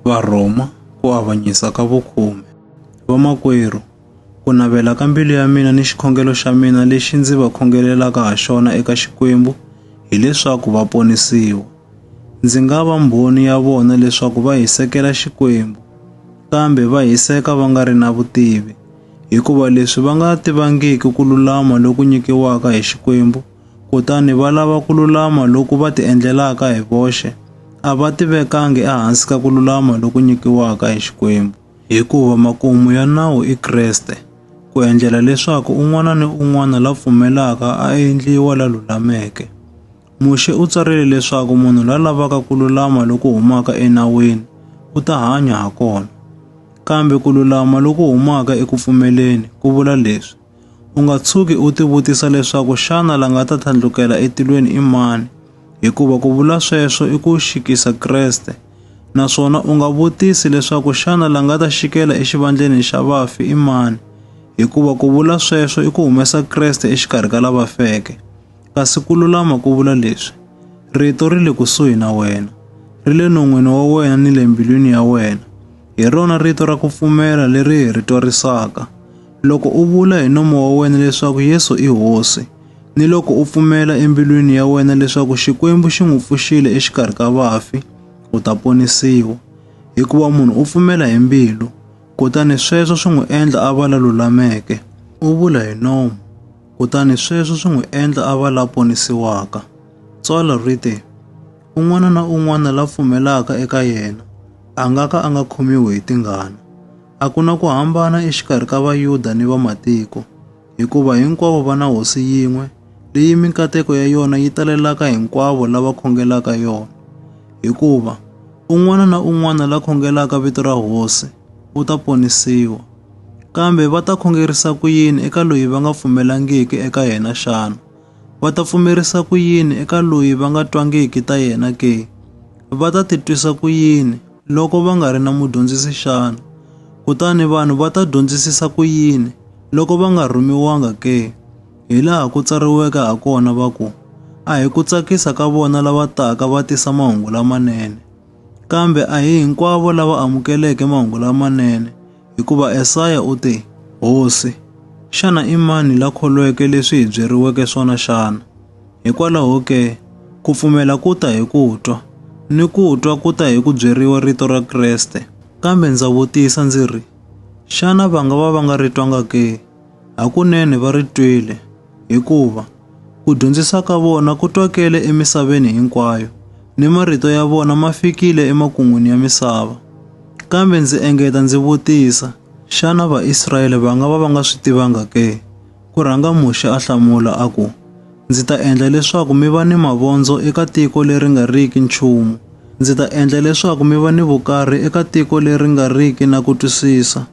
Varhoma, ku avanyisa ka vukhume. Vamakwerhu, ku navela ka mbilu ya mina ni xikhongelo xa mina lexi ndzi va khongelelaka ha xona eka Xikwembu hileswaku va ponisiwa. Ndzi nga va mbhoni ya vona leswaku va hisekela Xikwembu, kambe va hiseka va nga ri na vutivi, hikuva leswi va nga tivangiki ku lulama loku nyikiwaka hi Xikwembu kutani va lava ku lulama loku va ti endlelaka hi voxe, a va ti vekangi ehansi ka ku lulama loku nyikiwaka hi Xikwembu, hikuva makumu ya nawu i Kreste, ku endlela leswaku un'wana ni un'wana la pfumelaka a endliwa la lulameke. Muxe u tsarile leswaku munhu la lavaka ku lulama loku humaka enawini u ta hanya ha kona. Kambe ku lulama loku humaka eku pfumeleni ku vula leswi, U nga tshuki u tivutisa leswaku xana la nga ta tlhandlukela etilweni i mani, hikuva ku vula sweswo i ku xikisa Kreste. Naswona u nga vutisi leswaku xana la nga ta xikela exivandleni xa vafi i mani, hikuva ku vula sweswo i ku humesa Kreste exikarhi ka lava feke. Kasi ku lulama ku vula leswi, Rito ri le kusuhi na wena, ri le non'wini wa wena ni le mbilwini ya wena. Hi rona rito ra ku pfumela leri hi ri twarisaka. Loko u vula hi nomo wa wena leswaku Yesu i Hosi, ni loko u pfumela embilwini ya wena leswaku Xikwembu xi n'wi pfuxile exikarhi ka vafi, u ta ponisiwa. Hikuva munhu u pfumela hi mbilu, kutani sweswo swi n'wi endla a va la lulameke. U vula hi nomo, kutani sweswo swi n'wi endla a va la ponisiwaka. Tsalwa ri te, Un'wana na un'wana la pfumelaka eka yena a nga ka a nga khomiwi hi tingana. A ku na ku hambana exikarhi ka Vayuda ni vamatiko, hikuva hinkwavo va na hosi yin'we leyi minkateko ya yona yi talelaka hinkwavo lava khongelaka yona. Hikuva un'wana na un'wana la khongelaka vito ra hosi u ta ponisiwa. Kambe va ta khongerisa ku yini eka loyi va nga pfumelangiki eka yena xana? Va ta pfumerisa ku yini eka loyi va nga twangiki ta yena ke? Va ta titwisa ku yini Loko va nga ri na mudyondzisi xana? Kutani vanhu va ta dyondzisisa ku yini loko va nga rhumiwanga ke? Hi laha ku tsariweke ha kona va ku, A hi ku tsakisa ka vona lava taka va tisa mahungu lamanene. Kambe a hi hinkwavo lava amukeleke mahungu lamanene, hikuva Esaya u te, Hosi, xana i mani la kholweke leswi hi byeriweke swona xana? Hikwalaho ke, ku pfumela ku ta hi ku twa, ni ku twa ku ta hi ku byeriwa rito ra Kreste. Kambe ndza vutisa ndzi ri, Xana va nga va va nga ri twanga ke? Hakunene va ri twile, hikuva ku dyondzisa ka vona ku twakele emisaveni hinkwayo, ni marito ya vona ma fikile emakun'wini ya misava. Kambe ndzi engeta ndzi vutisa, Xana Vaisrayele va nga va va nga swi tivanga ke? Ku rhanga Muxe a hlamula a ku, Ndzi ta endla leswaku mi va ni mavondzo eka tiko leri nga riki nchumu, ndzi ta endla leswaku mi va ni vukarhi eka tiko leri nga riki na ku twisisa.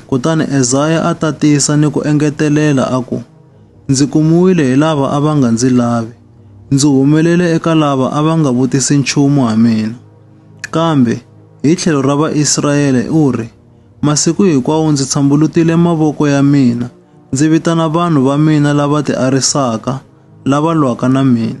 Kutani Ezaya a tatisa ni ku engetelela a ku, Ndzi kumiwile hi lava a va nga ndzi lavi, ndzi humelele eka lava a va nga vutisi nchumu ha mina. Kambe hi tlhelo ra Vaisraele u ri, Masiku hinkwawo ndzi tshambulutile mavoko ya mina, Ndzi vitana vanhu va mina lava tiarisaka, lava lwaka na mina.